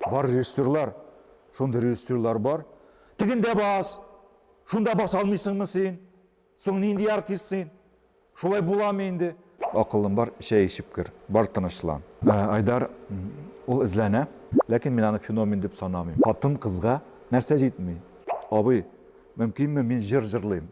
Бар режиссерлар, шундый режиссерлар бар. Тегендә бас, шунда баса алмыйсыңмы син? Соң нинди артист син? Шулай буламы инде? Акылың бар, чәй эчеп кер, бар тынычлан. Айдар, ул эзләнә, ләкин мин аны феномен дип санамыйм. Хатын-кызга нәрсә җитми? Абый, мөмкинме мин җыр җырлыйм?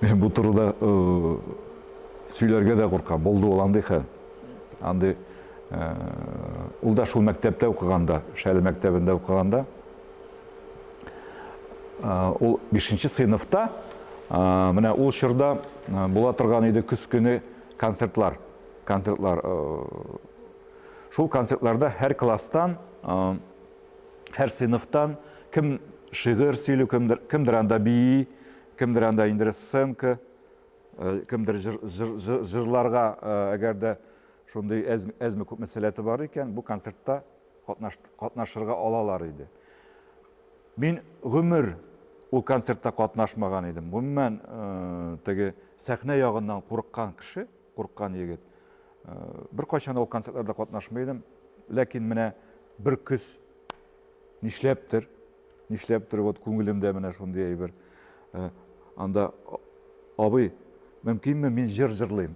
Мен бу турыда сөйләргә дә куркам. Булды ул андый хәл. Андый ул да шул мәктәптә укыганда, Шәле мәктәбендә укыганда, ул 5нче сыйныфта, менә ул чорда була торган иде көз көне концертлар. Концертлар. Шул концертларда һәр класстан һәр сыйныфтан кем шигырь сөйли, кемдер, кемдер анда бии, кемдер анда инде сценка, э, кемдер жыр, жыр, жыр, жырларга, э, әгәр дә шундый әз, әзме күпме сәләте бар икән, бу концертта катнаш, катнашырга алалар иде. Мин гомер ул концертта катнашмаган идем. Гомумән, э, теге сәхнә ягыннан курыккан кеше, Курккан егет. Беркайчан да ул концертларда катнашмый идем. Ләкин менә бер көз нишләптер, нишләптер вот күңелемдә менә шундый әйбер. Анда абый, мөмкинме мин җыр җырлыйм?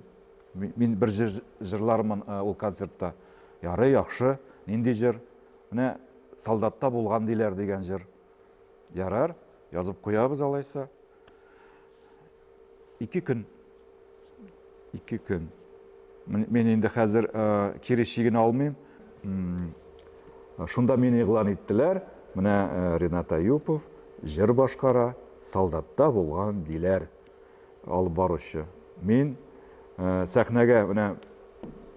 Мин бер җыр җырлармын ул концертта. Ярый, яхшы. Нинди җыр? Менә солдатта булган диләр дигән җыр. Ярар, язып куябыз алайса. Ике көн. Ике көн. Мин инде хәзер э, кире чигін алмыйм. Шунда мин иглан иттеләр. Менә э, Ренат Аюпов җыр башкара, солдатта булган диләр алып баручы. Мин э, сәхнәгә менә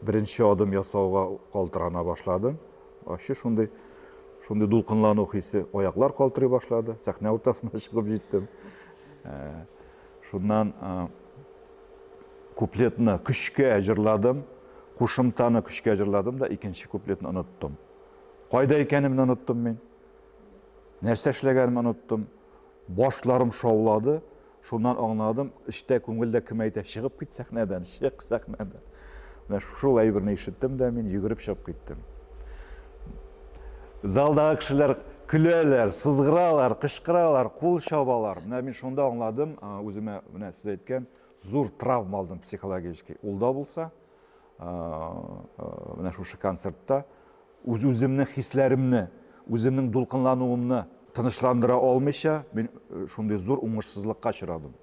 беренче адым ясауга калтырана башладым. Ачы шундый, шундый дулкынлану хисе, аяклар калтырый башлады, сәхнә уртасына чыгып җиттем. Ә, шуннан ә, куплетны көчкә җырладым, кушымтаны көчкә җырладым да икенче куплетны оныттым. Кайда икәнемне оныттым мин. Нәрсә эшләгәнемне оныттым. Башларым шаулады, шуннан аңладым, эчтә, күңелдә кем әйтә, чыгып кит сәхнәдән, чык сәхнәдән. Менә шул әйберне ишеттем дә мин йөгереп чыгып киттем. Залдагы кешеләр көләләр, сызгыралар, кычкыралар, кул чабалар. Менә мин шунда аңладым, үземә менә сез әйткән зур травма алдым психологический. Ул да булса, менә шушы концертта үз үземнең хисләремне, үземнең дулкынлануымны тынычландыра алмыйча, мин э, шундый зур уңышсызлыкка очрадым.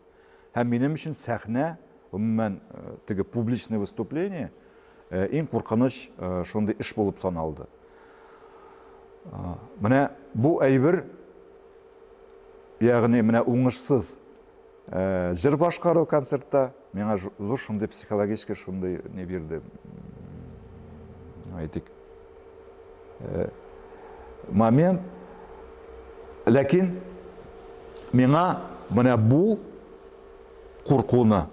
Һәм минем өчен сәхнә, гомумән, э, теге публичный выступление э, иң куркыныч шундый эш булып саналды. Менә бу әйбер, ягъни менә уңышсыз Э, җыр башкару концертта миңа зур шундый психологический шундый не бирде әйтик э, момент ләкин миңа менә бу куркуны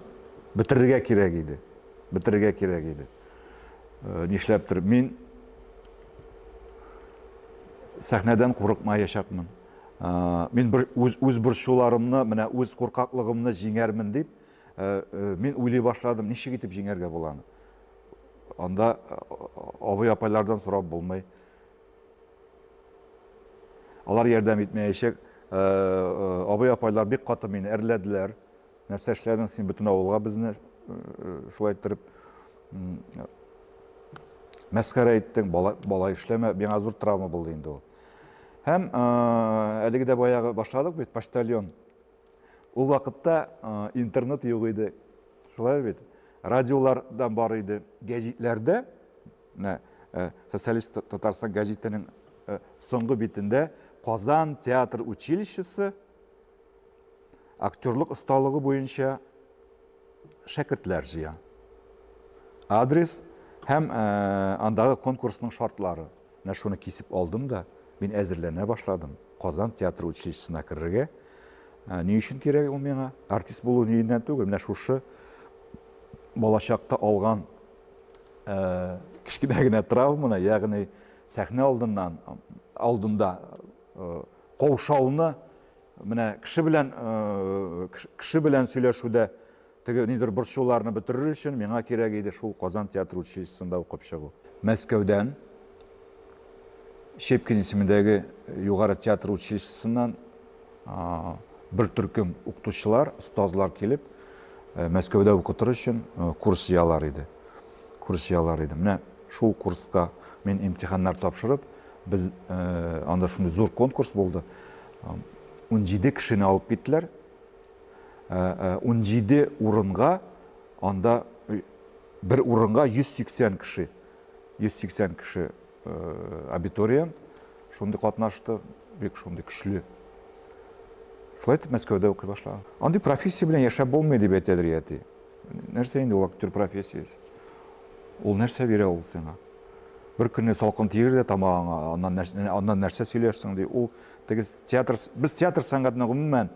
бетерергә кирәк иде бетерергә кирәк иде э, нишләптер мин сәхнәдән курыкмаячакмын Мин үз борчуларымны, менә үз куркаклыгымны җиңәрмен дип, мин уйлый башладым, ничек итеп җиңәргә була аны. Анда абый-апайлардан сорап булмый. Алар ярдәм итмәячәк. Абый-апайлар бик каты мине әрләделәр. Нәрсә эшләдең син бөтен авылга безне шулай иттереп мәскәре иттең, балай эшләмә, миңа зур травма булды инде ул. Һәм әлеге дә баягы башладык бит, почтальон. Ул вакытта интернет юк иде. Шулай бит. Радиолар да бар иде. Гәҗитләрдә, социалист Татарстан гәҗитенең соңгы битендә Казан театр училищесы актерлык осталыгы буенча шәкертләр җыя. Адрес һәм андагы конкурсның шартлары. Менә шуны кисеп алдым да, мин әзерләнә башладым. Казан театр училищесына керергә. Ни өчен кирәк ул миңа? Артист булу ниеннән түгел, менә шушы балачакта алган кечкенә генә травманы, ягъни сәхнә алдыннан алдында каушауны Менә кеше белән кеше белән сөйләшүдә теге нидер борчуларны бетерер өчен миңа кирәк иде шул Казан театр училищесында укып чыгу. Мәскәүдән Щепкин исемендәге югары театр училищесыннан бер төркем укытучылар, остазлар килеп, Мәскәүдә укытыр өчен курс җыялар иде. курс ялар идем. Менә шул курста мин имтиханнар тапшырып, без э, анда шундый зур конкурс булды. 17 кешене алып киттеләр. 17 э, э, урынга анда бер урынга 180 кеше 180 кеше абитуриент шундый катнашты, бик шундый көчле шулай итеп мәскәүдә укый башлаган андый профессия белән яшәп булмый дип әйтәләр әти нәрсә инде ул актер профессиясе ул нәрсә бирә ул сиңа бер көнне салкын тигер дә тамагыңа аннан нәрсә, аннан нәрсә сөйләрсең ди ул теге театр без театр сәнгатенә гомумән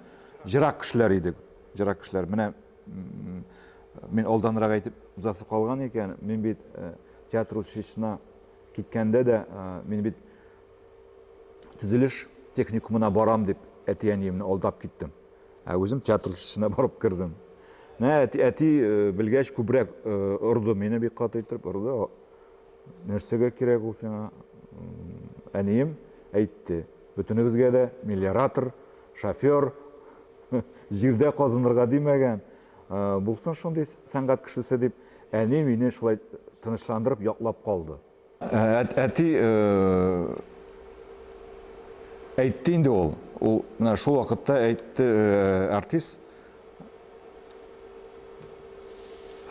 жырак кешеләр идек жырак кешеләр менә мин алданрак әйтеп узасы калган икән мин бит э, театр училищесына киткәндә дә э, мин бит төзелеш техникумына барам дип әти әниемне алдап киттем Ә үзем театр училищесына барып кердем. Менә әти, әти э, белгәч күбрәк э, орды мине бик каты итеп орды. Нәрсәгә кирәк ул сиңа? Әнием әйтте. Бөтенебезгә дә миллиоратор, шофер, җирдә казынырга димәгән. Э, булсын шундый сәнгать кешесе дип, әни мине шулай тынычландырып яклап калды. Әти әйтте инде ул. Ул менә шул вакытта әйтте артист.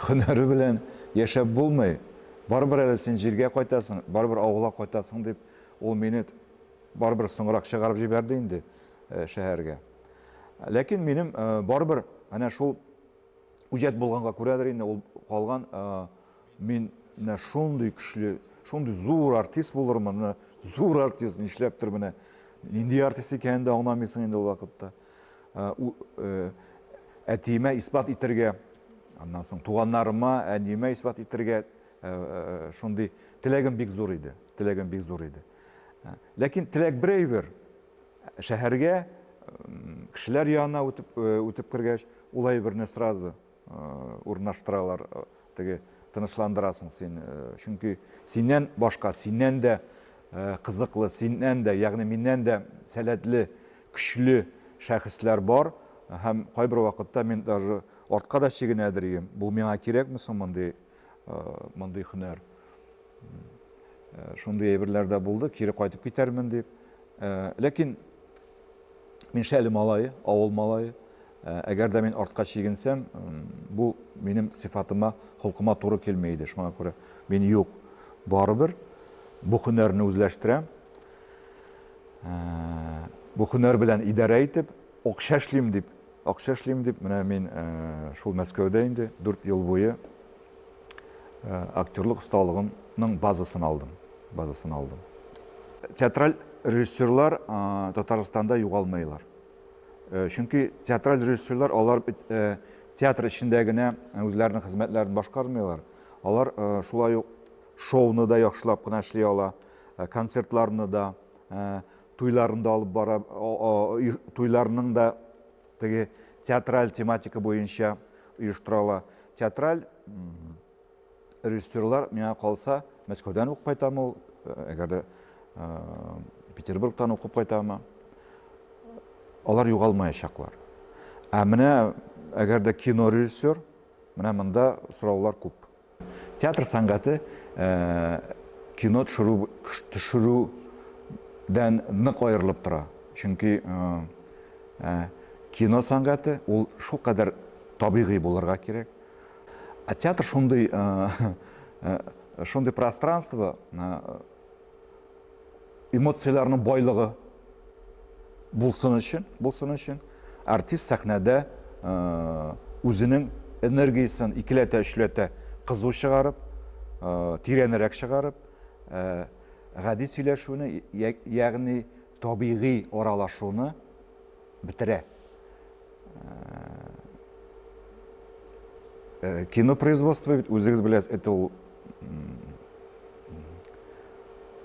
Хөнәре белән яшәп булмый. Барыбер әле син җиргә кайтасың, барыбер авылга кайтасың дип, ул мине барыбер соңрак чыгарып җибәрде инде шәһәргә. Ләкин минем барыбер әнә шул үҗәт булганга күрәдер инде ул калган Мин менә шундый көчле, шундый зур артист булырмын, менә зур артист нишләптер менә. Нинди артист икәнен дә аңламыйсың инде ул вакытта. Ә, у, э, әтиемә исбат итәргә, аннан соң туганнарыма, әниемә исбат итәргә э, шундый теләгем бик зур иде. Теләгем бик зур иде. Ә, ләкин теләк бер әйбер. Шәһәргә кешеләр янына үтеп, э, үтеп кергәч, ул әйберне сразу урнаштыралар, теге тынычландырасың син, чөнки синнән башка, синнән дә кызыклы, синнән дә, ягъни миннән дә сәләтле, көчле шәхесләр бар һәм кайбер вакытта мин даже артка да чигенә дөрим, бу миңа кирәкме соң мондый мондый һөнәр. Шундый әйберләр дә булды, кире кайтып китәрмен дип. Ләкин мин шәле малае, авыл малае. Әгәр дә мин артка чигенсәм, бу минем сифатыма, холкыма туры килми иде. Шуңа күрә мин юк, барыбер бу һөнәрне үзләштерәм. Бу һөнәр белән идарә итеп, акча эшлим дип Акча эшлим дип, менә мин шул Мәскәүдә инде 4 ел буе актерлык осталыгымның базасын алдым. Базасын алдым. Театраль режиссерлар Татарстанда югалмыйлар. Чөнки театраль режиссерлар алар театр эчендә генә үзләренең хезмәтләрен башкармыйлар. Алар шулай ук шоуны да яхшылап кына эшли ала, концертларны да, Туйларын да алып бара, туйларның да теге театраль тематика буенча оештыра ала. Театраль режиссерлар миңа калса, Мәскәүдән укып кайтамы ул, әгәр дә Петербургтан укып кайтамы, алар югалмаячаклар. Ә менә әгәр дә кино режиссер, менә монда сораулар күп. Театр сәнгате кино төшерүдән нык аерылып тора. Чөнки кино сәнгате ул шулкадәр табигый булырга кирәк. Ә театр шундый шундый пространство, эмоцияләрнең байлыгы булсын өчен, булсын өчен артист сәхнәдә үзенең энергиясен икеләтә, өчләтә кызу чыгарып, тирәнрәк чыгарып, гади сөйләшүне, ягъни табигый аралашуны бетерә. Кино производство бит, үзегез беләсез, это ул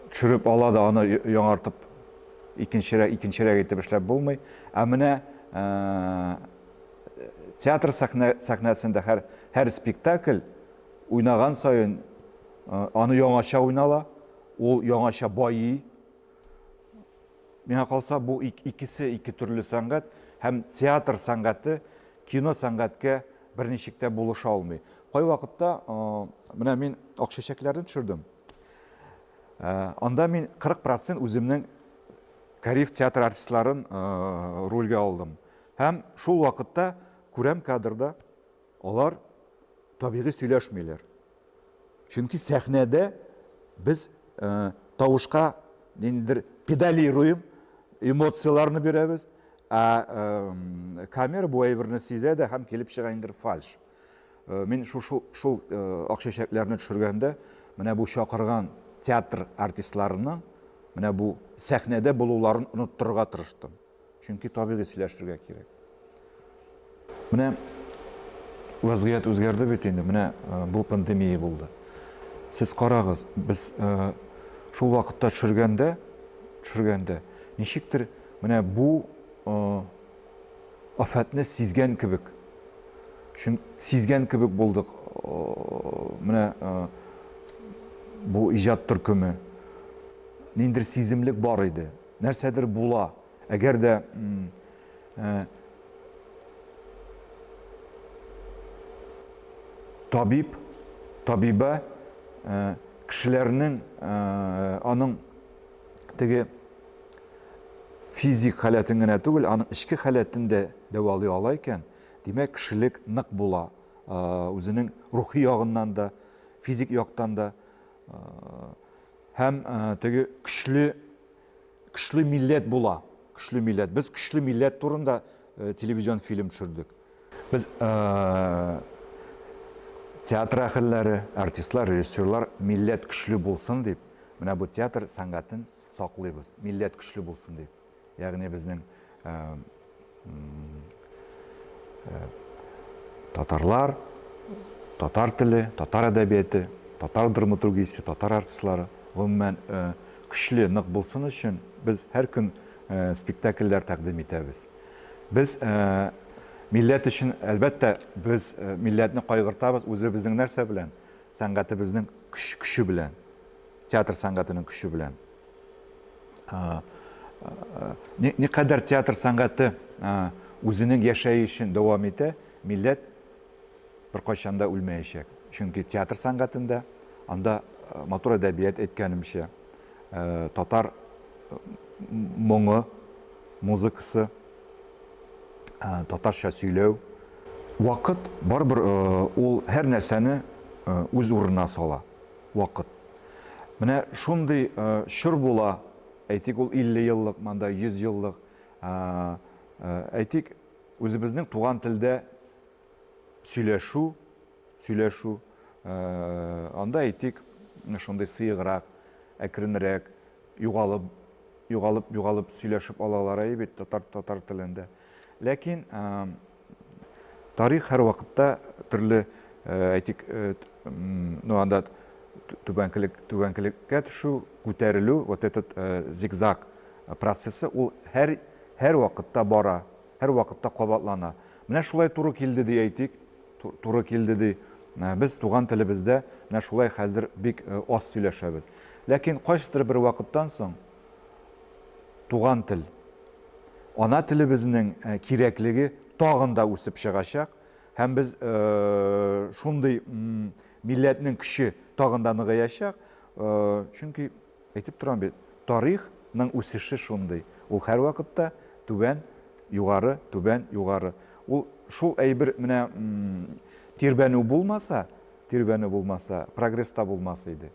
төшереп ала да аны яңартып икенчерәк икенчерәк итеп эшләп булмый. Ә менә театр сәхнә сәхнәсендә һәр һәр спектакль уйнаган саен аны яңача уйнала, ул яңача байый, Миңа калса, бу икесе ике төрле сәнгать һәм театр сәнгате кино сәнгатькә берничек тә булыша алмый. Кайвакытта менә мин ак чәчәкләрне төшердем. Анда мин 40% үземнең Кариф театр артистларын рольгә алдым. Һәм шул вакытта күрәм кадрда Алар табигый сөйләшмиләр. Чөнки сәхнәдә без э, тавышка ниндидер педалируем, эмоцияләрне бирәбез, ә э, камера бу әйберне сизә дә һәм килеп чыга ниндидер фальш. Э, мин шул шул, шул э, акчачәкләрне төшергәндә менә бу чакырган театр артистларының менә бу сәхнәдә булуларын оныттырырга тырыштым. Чөнки табигый сөйләшергә кирәк. Менә вазгыять үзгәрде бит инде, менә э, бу пандемия булды. Сез карагыз, без э, шул вакытта төшергәндә, төшергәндә ничектер менә бу э, афәтне сизгән кебек, чөн сизгән кебек булдык. Менә бу иҗат төркеме ниндер сиземлек бар иде. Нәрсәдер була. Әгәр дә э, табиб, табибә э, кешеләрнең э, аның теге физик халәтен генә түгел, аның эчке халәтен дә дәвалый ала икән, димәк, кешелек нык була. Үзенең рухи ягыннан да, физик яктан да Һәм теге көчле көчле милләт була. Көчле милләт. Без көчле милләт турында телевизион фильм төшердек. Без театр әһелләре, артистлар, режиссерлар милләт көчле булсын дип, менә бу театр сәнгатен саклыйбыз. Милләт көчле булсын дип. Ягъни безнең татарлар, татар теле, татар әдәбияты, татар драматургиясе, татар артистлары гомумән көчле, нык булсын өчен без һәр көн спектакльләр тәкъдим итәбез. Без милләт өчен, әлбәттә, без милләтне кайгыртабыз үзебезнең нәрсә белән? Сәнгатебезнең көче белән, театр сәнгатенең көче белән. никадәр театр сәнгате үзенең яшәешен дәвам итә, милләт беркайчан да үлмәячәк. Чөнки театр сәнгатендә анда матур әдәбият әйткәнемчә, татар моңы, музыкасы, татарча сөйләү. Вакыт барыбер ул һәр нәрсәне үз урынына сала. вакыт. Менә шундый чор була, әйтик, ул 50 еллык, монда 100 еллык, әйтик, үзебезнең туган телдә сөйләшү, сөйләшү, анда, әйтик, шундый сыеграк, әкренрәк, югалып, югалып, югалып сөйләшеп алалар әйе бит, татар, татар телендә. Ләкин Тарих һәрвакытта төрле, әйтик, ну анда түбәнкелек, түбәнкелеккә төшү, күтәрелү, вот этот зигзаг процессы ул һәр һәрвакытта бара, һәрвакытта кабатлана. Менә шулай туры килде ди әйтик, туры килде ди. Без туган телебездә менә шулай хәзер бик аз сөйләшәбез. Ләкин кайсыдыр бер вакыттан соң туган тел, ана телебезнең кирәклеге тагын да үсеп чыгачак һәм без шундый милләтнең көче тагын да ныгыячак, чөнки әйтеп торам бит, тарих ның үсеше шундый, ул һәрвакытта түбән, югары, түбән, югары. Ул шул әйбер менә тирбәнү булмаса, тирбәнү булмаса, прогресс та булмас иде.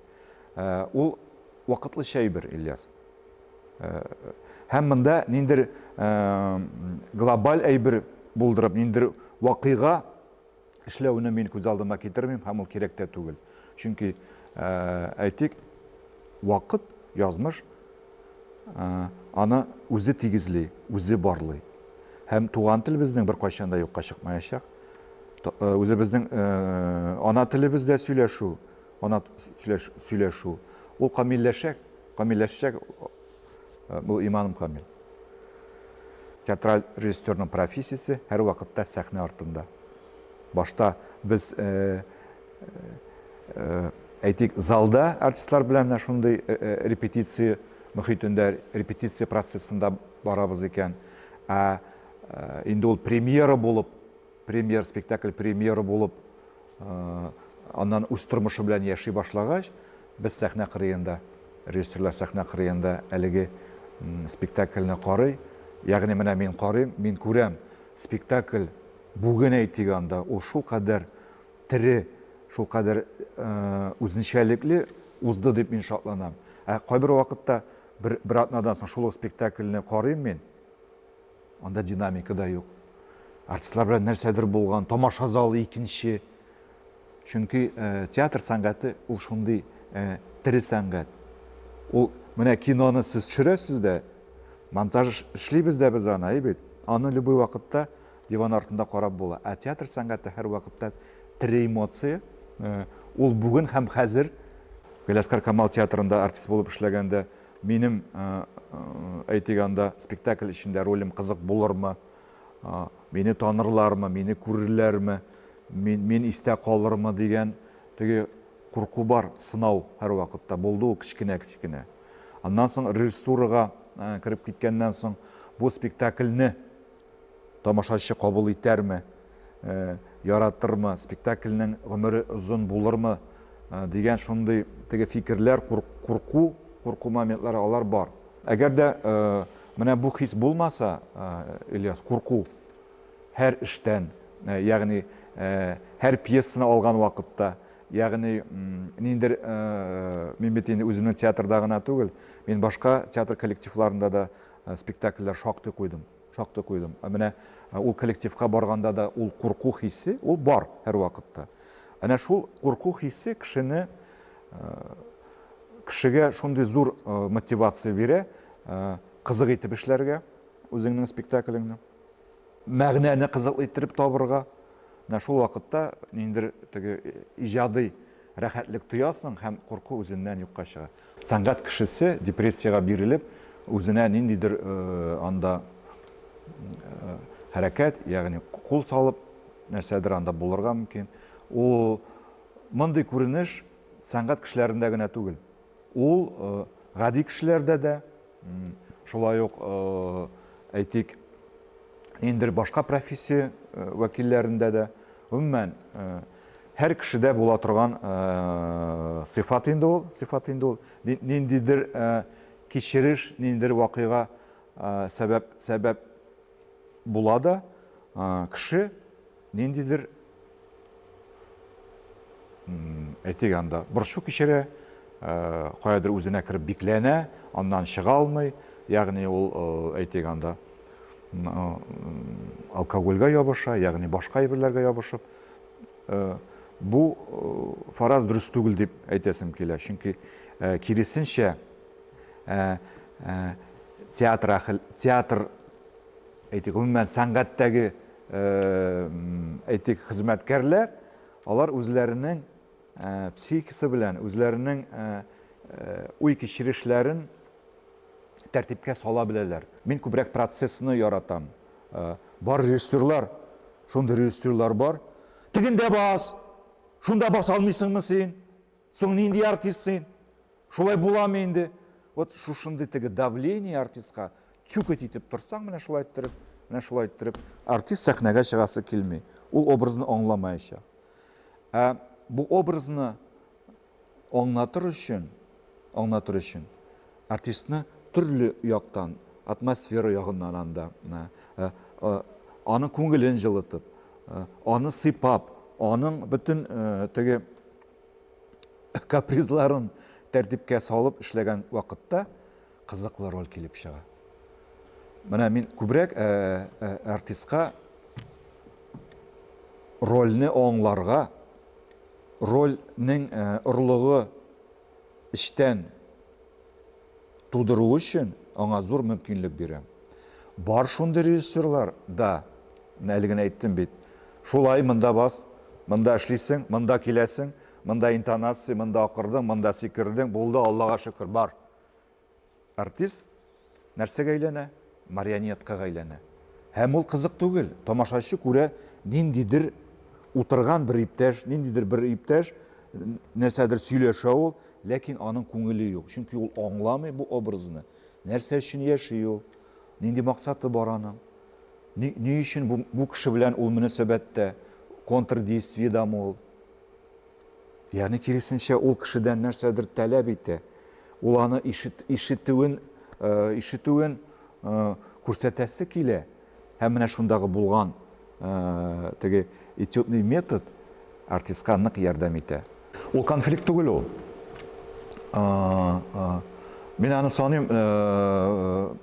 Э, ул вакытлыча әйбер, Ильяс. Э, һәм монда ниндер э, глобаль әйбер булдырып, ниндер вакыйга эшләүне мин күз алдыма китермим, һәм ул кирәк тә түгел. Чөнки әйтик, вакыт, язмыш аны үзе тигезли, үзе барлый. Һәм туган тел безнең бер кайчан да юкка чыкмаячак. Үзебезнең ана телебездә сөйләшү, Канат сөйләшү. Ул камилләшә, камилләшчәк бу иманым камил. Театраль режиссерның профессиясе һәрвакытта сәхнә артында. Башта без әйтик, залда артистлар белән менә шундый репетиция мөхитендә, репетиция процессында барабыз икән. Ә инде ул премьера булып премьер спектакль премьеры булып аннан үз тормышы белән яши башлагач без сәхнә кырыенда режиссерлар сәхнә кырыенда әлеге спектакльне карый ягъни менә мин карыйм мин күрәм спектакль бүген әйтик анда ул шулкадәр тере шулкадәр үзенчәлекле узды дип мин шатланам ә кайбер вакытта бер, бер атнадан соң шул ук спектакльне карыйм мин Анда динамика да юк. Артистлар белән нәрсәдер булган, тамаша залы икенче. Чөнки э, театр сәнгате ул шундый э, тере сәнгать. Ул менә киноны сез төшерәсез дә, монтаж эшлибез дә без аны, әйбит. Аны любой вакытта диван артында карап була. Ә театр сәнгате һәр вакытта тере эмоция. Э, ул бүген һәм хәзер Галиаскар Камал театрында артист булып эшләгәндә Минем, әйтик, анда спектакль эчендә ролем кызык булырмы, мине танырлармы, мине күрерләрме, мин, мин истә калырмы дигән теге курку бар, сынау һәрвакытта булды ул кечкенә-кечкенә. Аннан соң режиссурага кереп киткәннән соң бу спектакльне Тамашачы кабул итәрме, яратырмы, спектакльнең гомере озын булырмы дигән шундый теге фикерләр, курку, курку моментлары алар бар. Әгәр дә менә бу хис булмаса, Ильяс, курку һәр эштән, ягъни һәр пьесаны алган вакытта, ягъни ниндидер, мин бит инде үземнең театрда гына түгел, мин башка театр коллективларында да спектакльләр шактый куйдым, шактый куйдым. Ә менә ул коллективка барганда да ул курку хисе, ул бар һәрвакытта. Әнә шул курку хисе кешене кешегә шундый зур мотивация бирә, кызык итеп эшләргә үзеңнең спектаклеңне. Мәгънәне кызык итеп табырга. Менә шул вакытта ниндер теге иҗади рәхәтлек тоясың һәм курку үзеннән юкка чыга. Сәнгать кешесе депрессиягә бирелеп, үзенә ниндидер анда хәрәкәт, ягъни кул салып, нәрсәдер анда булырга мөмкин. Ул мондый күренеш сәнгать кешеләрендә генә түгел. Ул гади кешеләрдә дә, шулай ук, әйтик, ниндидер башка профессия вәкилләрендә дә, гомумән, Һәр кешедә була торган сыйфат инде ул, сыйфат инде ул. Ниндидер кичереш, ниндидер вакыйга сәбәп, сәбәп була да, кеше ниндидер, әйтик анда, борчу кичерә, каядыр үзенә кереп бикләнә, аннан чыга алмый, ягъни ул, әйтик анда, алкогольгә ябыша, ягъни башка әйберләргә ябышып, э, бу э, фараз дөрес түгел дип әйтәсем килә. Чөнки э, киресенчә театр театр әйтик гомумән сәнгатьтәге әйтик хезмәткәрләр алар үзләренең психикасы белән үзләренең уй кичерешләрен тәртипкә сала беләләр мин күбрәк процессны яратам Бар режиссерлар, шундый режиссерлар бар. Тегендә бас, шунда бас алмыйсыңмы син? Соң нинди артист син? Шулай буламы инде? Вот шушындый теге давление артистка тюкать итеп торсаң, менә шулай иттереп, менә шулай иттереп, артист сәхнәгә чыгасы килми. Ул образны аңламаячак. Ә бу образны Аңлатыр өчен, аңлатыр өчен артистны төрле яктан, атмосфера ягыннан анда, ә, ә, а, аның күңелен җылытып, ә, аны сыйпап, аның бөтен ә, теге капризларын тәртипкә салып эшләгән вакытта кызыклы роль килеп чыга. Менә мин күбрәк ә, ә, артистка рольне аңларга Роль нең орлыгы эчтән тудыру өчен аңа зур мөмкинлек бирә. Бар шундый режиссерлар да, менә әле генә әйттем бит, шулай, монда бас, монда эшлисең, монда киләсең, монда интонация, монда акырдың, монда сикердең, булды, Аллага шөкер, бар. Артист нәрсәгә әйләнә? Марионеткага әйләнә. Һәм ул кызык түгел. Тамашачы күрә, ниндидер утырган бер иптәш, ниндидер бер иптәш, нәрсәдер сөйләшә ул, ләкин аның күңеле юк. Чөнки ул аңламый бу образны. Нәрсә өчен яши ул? Нинди максаты бар аның? Ни, ни өчен бу, бу кеше белән ул мөнәсәбәттә? Контрдействиедамы ул? Ягъни киресенчә, ул кешедән нәрсәдер таләп итә. Ул аны ишет, ишетүен, э, ишетүен э, күрсәтәсе килә. Һәм менә шундагы булган э, теге этюдный метод артистка нык ярдәм итә. Ул конфликт түгел ул. Мин аны саныйм,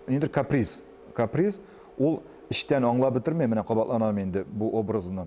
инде каприз. Каприз, ул эчтән аңлап бетермәй, менә кабатланам инде бу образны.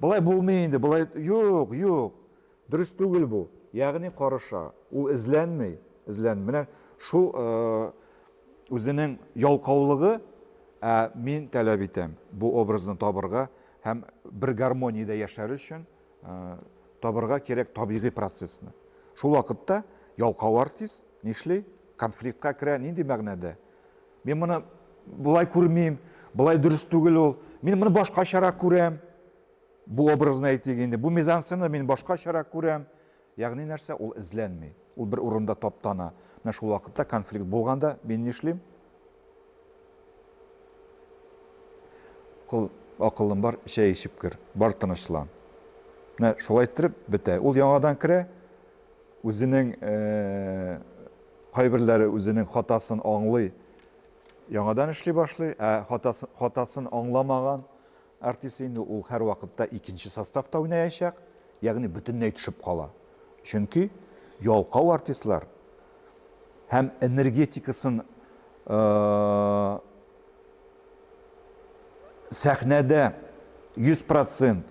Болай булмый инде, болай юк, юк, дөрес түгел бу. Ягъни карыша, ул эзләнми, эзләнми. Менә шул үзенең ялкаулыгы, ә мин таләп итәм бу образны табырга һәм бер гармониядә яшәр өчен табырга кирәк табигый процессны. Шул вакытта ялкау артист нишли? Конфликтка керә, нинди мәгънәдә? Мин моны болай күрмим, болай дөрес түгел ул. Мин моны башкачарак күрәм. Бу образны әйтик инде. Бу мизансцена мин башкачарак күрәм. Ягъни нәрсә? Ул эзләнми. Ул бер урында таптана. Менә шул вакытта конфликт булганда мин нишлим? Кул акылым бар, чәй эчеп кер. Бар тынычлан. Менә шулай иттереп бетә. Ул яңадан керә, Үзенең кайберләре үзенең хатасын аңлый, яңадан эшли башлый, ә хатасын аңламаган артист инде ул һәрвакытта икенче составта уйнаячак, ягъни бөтенләй төшеп кала. Чөнки ялкау артистлар һәм энергетикасын сәхнәдә 100 процент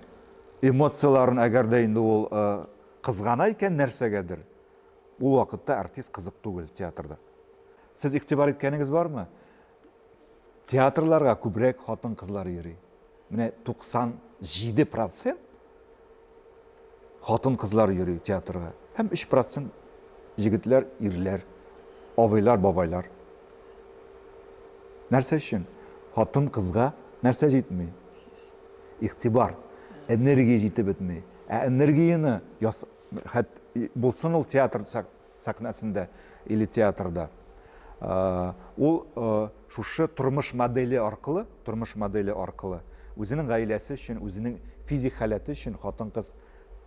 эмоцияләрен әгәр дә инде ул Кызгана икән нәрсәгәдер. Ул вакытта артист кызык түгел театрда. Сез игътибар иткәнегез бармы? Театрларга күбрәк хатын-кызлар йөри. Менә 97 процент хатын-кызлар йөри театрга. Һәм 3 процент егетләр, ирләр, абыйлар, бабайлар. Нәрсә өчен? Хатын-кызга нәрсә җитми? Игътибар, энергия җитеп бетми. Ә энергияне яс... хәт булсын ул театр сәхнәсендә или театрда. Э, ул э, шушы тормыш модели аркылы, тормыш модели аркылы үзенең гаиләсе өчен, үзенең физик халәте өчен хатын-кыз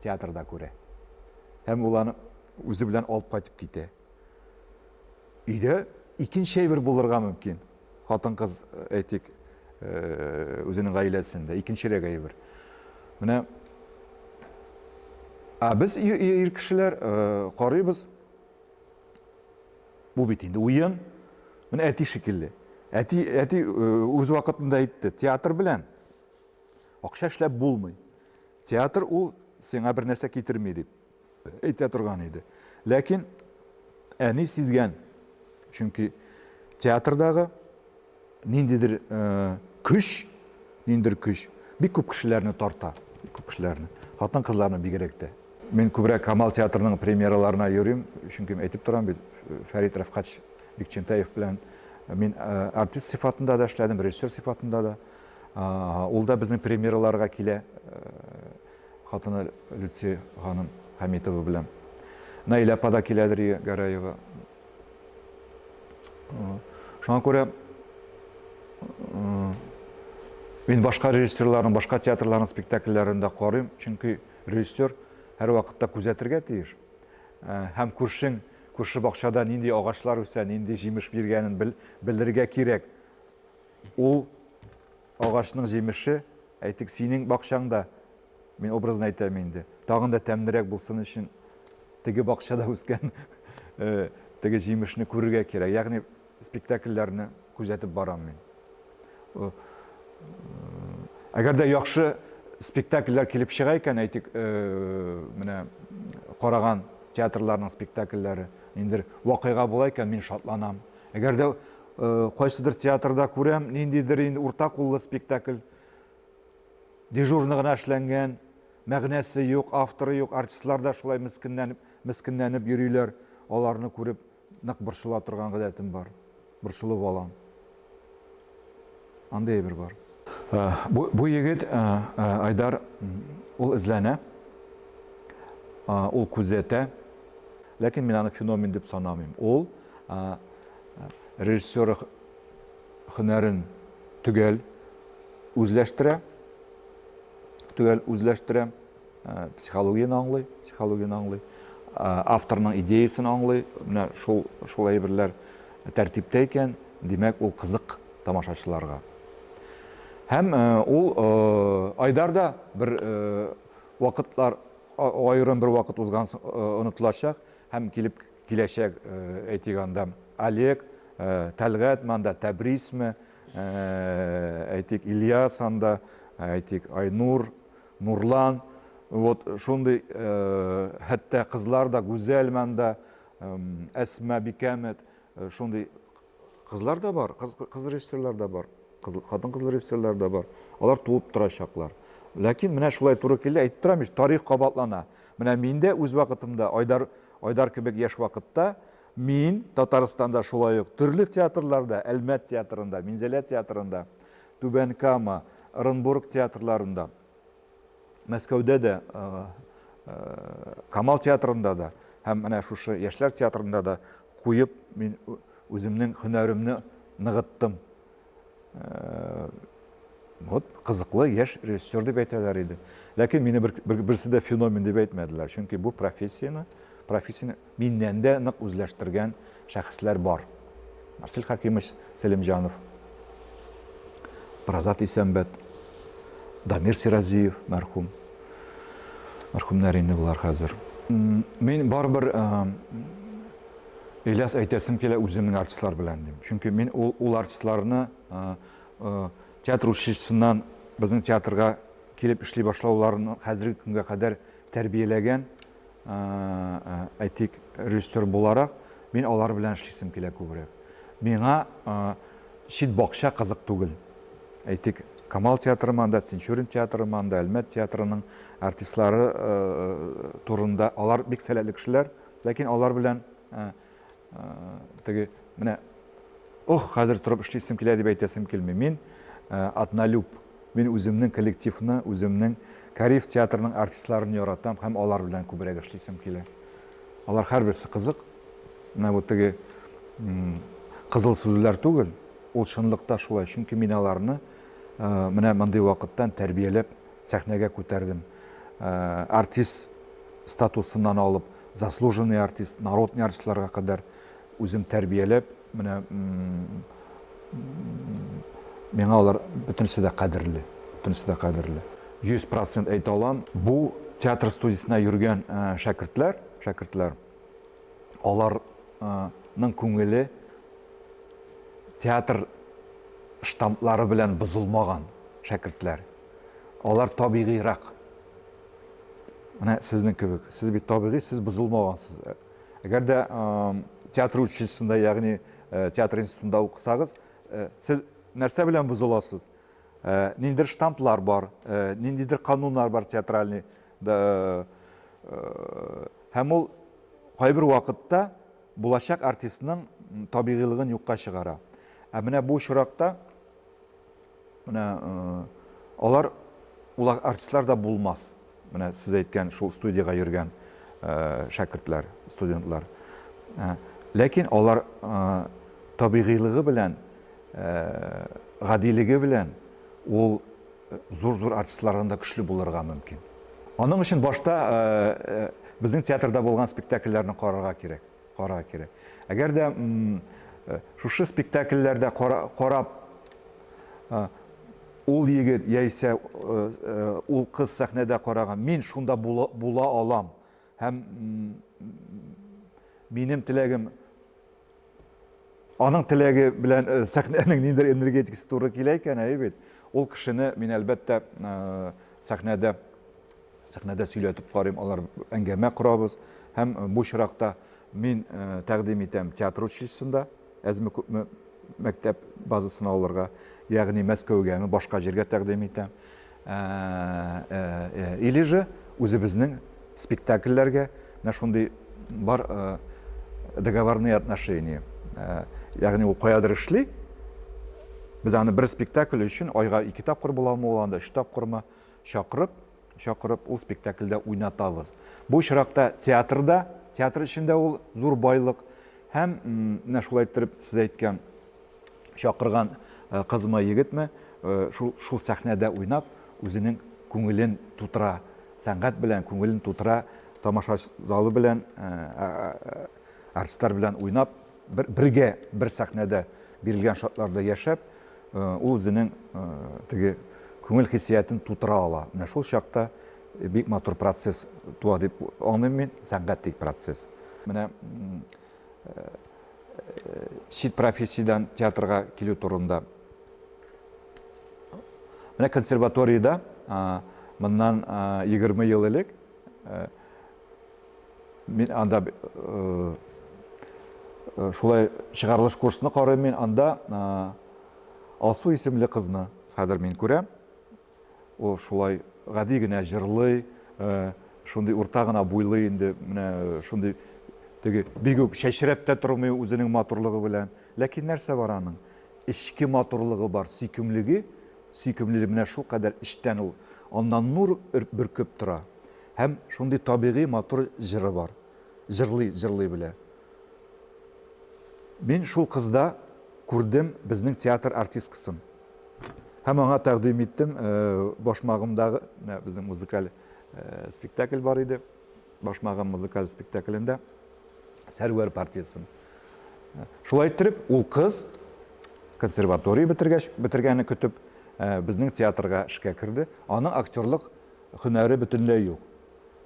театрда күрә. Һәм ул аны үзе белән алып кайтып китә. Өйдә икенче әйбер булырга мөмкин. Хатын-кыз, әйтик, үзенең гаиләсендә, икенчерәк әйбер. Менә Ә без ир кешеләр карыйбыз, бу бит инде уен, менә әти шикелле. Әти, әти үз вакытында әйтте, театр белән акча эшләп булмый. Театр ул сиңа бер нәрсә китерми дип. әйтә торган иде. Ләкин әни сизгән. Чөнки театрдагы ниндидер э, көч, ниндидер көч бик күп кешеләрне тарта, бик күп кешеләрне, хатын-кызларны бигрәк тә. Мин күбрәк Камал театрының премьераларына йөрим, чөнки әйтеп торам бит, Фәрит Рәфкач Бикчентаев белән э, мин э, артист сыйфатында да эшләдем, режиссер сыйфатында да. Ул да безнең премьераларга килә. Хатыны Люция ханым Хәмитова белән Наилә апа да киләдер, и Гәрәева. Шуңа күрә мин башка режиссерларның, башка театрларның спектакльләрен дә карыйм, чөнки режиссер һәрвакытта күзәтергә тиеш. Э, һәм күршең, күрше бакчада нинди агачлар үсә, нинди җимеш биргәнен белергә кирәк. Ул Агачның җимеше, әйтик, синең бакчаңда, мин образно әйтәм инде, тагын да тәмлерәк булсын өчен, теге бакчада үскән теге җимешне күрергә кирәк. Ягъни спектакльләрне күзәтеп барам мин. Әгәр дә яхшы спектакльләр килеп чыга икән, әйтик, менә караган театрларның спектакльләре, ниндидер вакыйга була икән, мин шатланам. Әгәр дә кайсыдыр театрда күрәм, ниндидер инде урта куллы спектакль, дежурный гына эшләнгән, мәгънәсе юк, авторы юк, артистлар да шулай мескенләнеп, мескенләнеп йөриләр, аларны күреп нык борчыла торган гадәтем бар. Борчылып алам. Андый әйбер бар. Бу, бу егет Айдар ул эзләнә, ул күзәтә, ләкин мин аны феномен дип санамыйм. Ул режиссер хөнәрен төгәл үзләштерә, төгәл үзләштерә. Э, психологияне аңлый психологияне аңлый э, авторның идеясын аңлый менә шул шул әйберләр тәртиптә икән димәк ул кызык тамашачыларга һәм э, ул айдарда бер вакытлар аерым бер вакыт узган онытылачак һәм килеп киләчәк әйтик анда олег тәлгат манда тәбрисме әйтик ильяс анда әйтик айнур Нурлан, вот шундый, хәтта кызлар да гүзәл монда, Әсма бикәмет, шундый кызлар да бар, кыз кыз режиссерлар да бар, кыз хатын кыз режиссерлар да бар. Алар туып торачаклар. Ләкин менә шулай туры килә, әйтеп торам ич, тарих кабатлана. Менә мин дә үз вакытымда Айдар Айдар кебек яшь вакытта мин Татарстанда шулай ук төрле театрларда, Әлмәт театрында, Минзәлә театрында Түбән Кама, Ырынбург театрларында, Мәскәүдә дә, Камал театрында да һәм менә шушы яшьләр театрында да куеп мин үземнең һөнәремне ныгыттым. Вот кызыклы яшь режиссер дип әйтәләр иде. Ләкин мине берсе дә феномен дип әйтмәделәр, чөнки бу профессияне, профессияне Миннән дә нык үзләштергән шәхесләр бар. Марсель Хәкимович Сәлимҗанов, Разат Исәнбәт, Дамир Сиразиев мәрхүм. Мәрхүмнәр инде болар хәзер. Мин барыбер Ильяс әйтәсем килә үземнең артистлар белән дим. Чөнки мин ул, ул артистларны театр училищесыннан безнең театрга килеп эшли башлауларын хәзерге көнгә кадәр тәрбияләгән Әйтик, режиссер буларак, мин алар белән эшлисем килә күбрәк. Миңа чит бакча кызык түгел. Әйтик, Камал театры монда, Тинчурин театры монда, Әлмәт театрының артистлары турында, алар бик сәләтле кешеләр, ләкин алар белән Теге менә ох, хәзер торып эшлисем килә дип әйтәсем килми. Мин атналюб. Мин үземнең коллективны, үземнең Кариф театрының артистларын яратам һәм алар белән күбрәк эшлисем килә. Алар һәрберсе кызык. Менә бу теге кызыл сүзләр түгел, ул чынлыкта шулай, чөнки мин аларны менә мондый вакыттан тәрбияләп Сәхнәгә күтәрдем. Артист статусыннан алып, заслуженный артист, народный артистларга кадәр үзем тәрбияләп, менә миңа алар бөтенесе дә кадерле, бөтенесе дә кадерле. 100% әйтә алам, бу театр студиясенә йөргән шәкертләр, шәкертләр, аларның күңеле театр штамплары белән бозылмаган шәкертләр. Алар табигыйрак. Менә сезнең кебек. Сез бит табигый, сез бозылмагансыз. Әгәр дә театр училищесында, ягъни э, театр институтында укысагыз, э, сез нәрсә белән бозыласыз? Э, ниндидер штамплар бар, ниндидер кануннар бар театральный. Һәм ул кайбер вакытта булачак артистның табигыйлыгын юкка чыгара. Ә менә бу очракта Менә алар ул артистлар да булмас. Менә сез әйткән шул студиягә йөргән шәкертләр, студентлар. Ләкин алар табигыйлыгы белән, гадилеге белән ул зур-зур артистлардан да көчле булырга мөмкин. Аның өчен башта безнең театрда булган спектакльләрне карарга кирәк. Кара кере. Әгәр дә шушы спектакльләрдә карап ул егет яисә ул кыз сәхнәдә караган, мин шунда була алам һәм минем теләгем аның теләге белән сәхнәнең ниндидер энергетикасы туры килә икән, әйе бит, ул кешене мин әлбәттә сәхнәдә Сәхнәдә сөйләтеп карыйм, алар әңгәмә корабыз һәм бу чиракта мин э, тәкъдим итәм театр училищесында әзме күпме мәктәп базасын алырга, ягъни Мәскәүгәме, башка җиргә тәкъдим итәм. Э, э, или же үзебезнең спектакльләргә менә шундый бар договорные отношения. Ягъни ул каядыр эшли, без аны бер спектакль өчен айга ике тапкыр буламы ул анда, өч тапкырмы, Чакырып, чакырып ул спектакльдә уйнатабыз. Бу очракта театрда, театр өчен дә ул зур байлык. Һәм менә шулай иттереп сез әйткән чакырган э, кызмы, егетме, э, шул, шул сәхнәдә уйнап, үзенең күңелен тутыра, сәнгать белән күңелен тутыра, тамаша залы белән, э, артистлар белән уйнап, Бер, бергә бер сәхнәдә бирелгән шартларда яшәп, э, ул үзенең э, теге күңел хиссиятен тутыра ала. Менә шул чакта э, бик матур процесс туа дип аңлыйм мин, сәнгать тик процесс. Менә чит профессиядән театрга килү турында. Менә консерваториядә моннан 20 ел элек Мин анда э, э, шулай чыгарылыш курсны карыйм мин анда э, Алсу исемле кызны хәзер мин күрәм. Ул шулай гади генә җырлый, шундый урта гына буйлы инде, менә шундый теге бик үк чәчрәп тә тормый үзенең матурлыгы белән. Ләкин нәрсә бар аның? Эчке матурлыгы бар, сөйкемлеге, сөйкемлеге менә шул кадәр эчтән ул. Аннан нур өрп бөркеп тора. Һәм шундый табигый матур җыры бар. Җырлый, җырлый белә. Мин шул кызда күрдем безнең театр артисткасын. Һәм аңа тәкъдим иттем, башмагымдагы, безнең музыкаль спектакль бар иде. Башмагым музыкаль спектаклендә Сәрвәр партиясын. Шулай иттереп, ул кыз консерватория бетергәч, бетергәне көтеп, безнең театрга эшкә керде. Аның актерлык Һөнәре бөтенләй юк.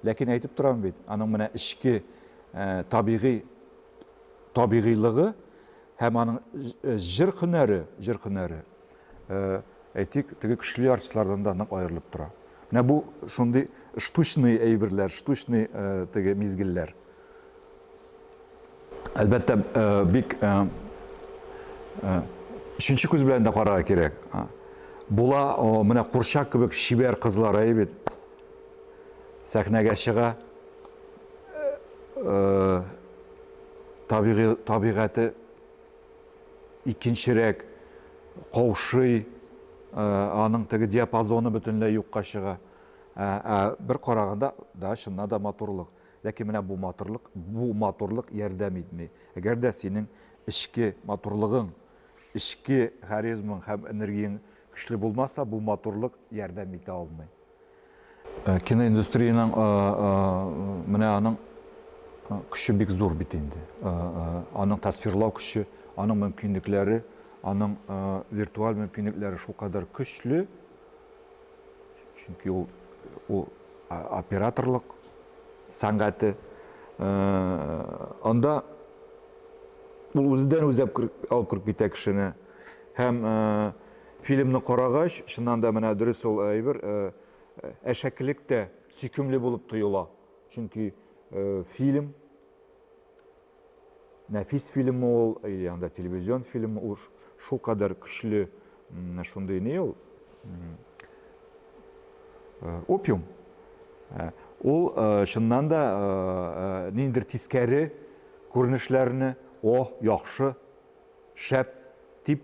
Ләкин әйтеп торам бит, аның менә эчке табигый табигыйлыгы һәм аның җыр һөнәре, җыр һөнәре, әйтик, теге көчле артистлардан да нык аерылып тора. Менә бу шундый штучный әйберләр, штучный теге мизгелләр. Әлбәттә, бик өченче күз белән дә карарга кирәк. Була, менә курчак кебек чибәр кызлар әй бит. Сәхнәгә чыга. Табигый табигате икенчерәк каушый, аның теге диапазоны бөтенләй юкка чыга. Ә бер караганда да чыннан да матурлык. Ләкин менә бу матурлык, бу матурлык ярдәм итми. Әгәр дә синең эчке матурлыгың, эчке харизмаң һәм энергияң көчле булмаса, бу матурлык ярдәм итә алмый. Э, киноиндустрияның э, э, менә аның көче бик зур бит инде аның тасвирлау көче аның мөмкинлекләре аның виртуаль мөмкинлекләре шулкадәр көчле чөнки ул ул операторлык сәнгате анда ул үзедән үзе алып кереп китә кешене һәм фильмны карагач чыннан да менә дөрес ул әйбер әшәкелек тә сөйкемле булып тоела чөнки фильм нәфис фильм ул или анда телевизион фильм ул шул кадәр көчле шундый ни ул э, опиум э, ул э, чыннан да ниндидер тискәре күренешләрне о яхшы шәп дип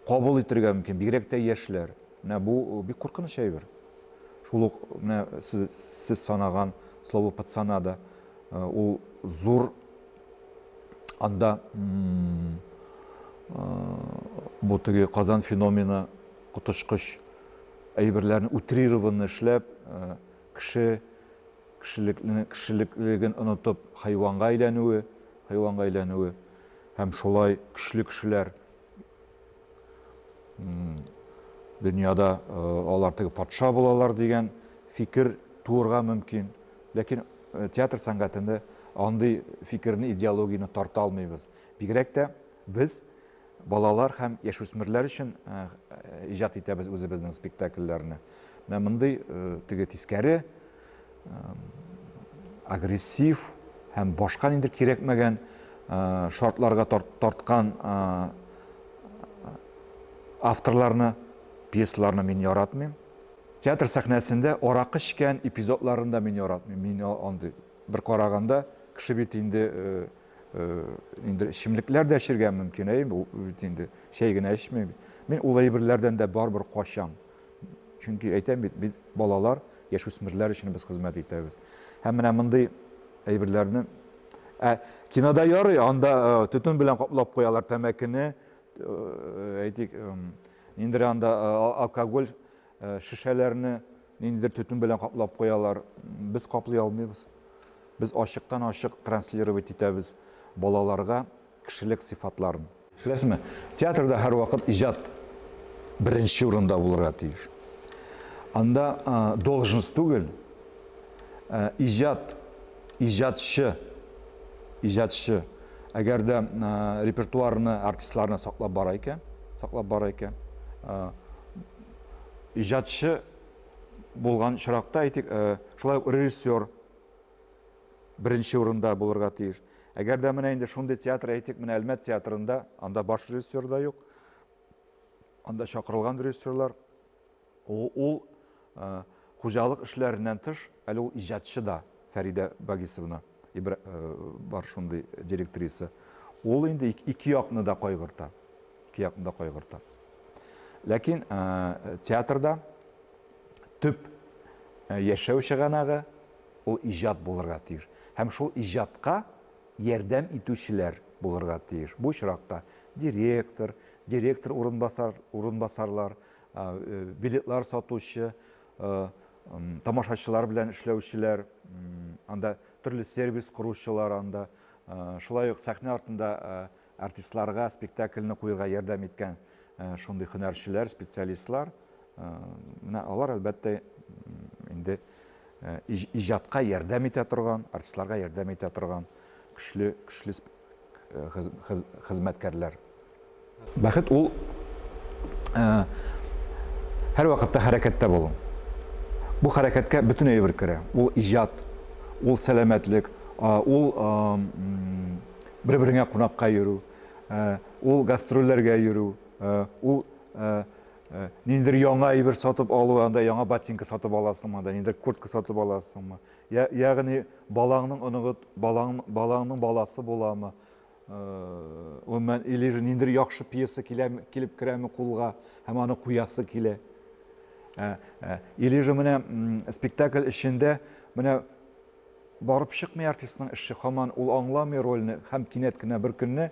кабул итергә мөмкин, бигрәк тә яшьләр. Менә бу э, бик куркыныч әйбер. Шул ук менә сез, сез санаган слово пацанада э, ул зур анда э, бу теге Казан феномены коточкыч әйберләрне утрированно эшләп Кеше кешелекне, кешелеклелеген онытып, хайванга әйләнүе, хайванга әйләнүе һәм шулай көчле кешеләр дөньяда алар теге патша булалар дигән фикер туырга мөмкин. Ләкин театр сәнгатендә андый фикерне, идеологияне тарта алмыйбыз. Бигрәк тә Без балалар һәм яшүсмерләр өчен иҗат итәбез үзебезнең спектакльләрне. Менә мондый теге тискәре агрессив һәм башка нидер кирәкмәгән шартларга тарткан авторларны, пьесаларны мин яратмыйм. Театр сәхнәсендә аракы эчкән эпизодларын да мин яратмыйм. Мин андый бер караганда кеше бит инде инде эчемлекләр дә эчергә мөмкин әй бу бит инде чәй генә эчми мин ул әйберләрдән дә барыбер качам чөнки әйтәм бит без балалар яшүсмерләр өчен без хезмәт итәбез һәм менә мондый әйберләрне ә кинода ярый анда э, төтен белән каплап куялар тәмәкене э, әйтик ниндидер анда э, алкоголь Шешәләрне ниндидер төтен белән каплап куялар. Без каплый алмыйбыз. Без ачыктан-ачык транслировать итәбез балаларга кешелек сыйфатларын. Беләсезме, театрда һәрвакыт иҗат беренче урында булырга тиеш. Анда должность түгел, ә иҗат, иҗатчы, иҗатчы. Әгәр дә репертуарны, артистларны саклап бара икән, саклап бара икән, иҗатчы булган чоракта, әйтик, шулай ук режиссер беренче урында булырга тиеш. Әгәр дә менә инде шундый театр, әйтик, менә Әлмәт театрында, анда баш режиссер да юк, анда чакырылган режиссерлар, ул, ул хуҗалык эшләреннән тыш, әле ул иҗатчы да Фәридә Багисовна. Ибра... Э, бар шундый директриса. Ул инде ике якны да кайгырта. Ике якны да кайгырта. Ләкин э, театрда төп э, яшәү чыганагы ул иҗат булырга тиеш. Һәм шул иҗатка ярдәм итүчеләр булырга тиеш. Бу очракта директор, директор урынбасар, урынбасарлар, билетлар сатучы, тамашачылар белән эшләүчеләр, анда төрле сервис коручылар анда, шулай ук сәхнә артында артистларга спектакльне куерга ярдәм иткән шундый һөнәрчеләр, специалистлар, менә алар әлбәттә инде иҗатка ярдәм итә торган, артистларга ярдәм итә торган көчле, көчле хезмәткәрләр. Бәхет ул һәрвакытта хәрәкәттә булу. Бу хәрәкәткә бөтен әйбер керә. Ул иҗат, ул сәламәтлек, ул бер-береңә кунакка йөрү, ул гастрольләргә йөрү, ул ниндидер яңа әйбер сатып алу, анда яңа ботинка сатып аласыңмы, анда ниндидер куртка сатып аласыңмы, Я, ягъни балаңның оныгы, балаң, балаңның баласы буламы? Гомумән, э, или же ниндидер яхшы пьеса килә, килеп керәме кулга һәм аны куясы килә. Ә, ә, или же менә спектакль эчендә менә барып чыкмый артистның эше, хаман ул аңламый рольне һәм кинәт кенә бер көнне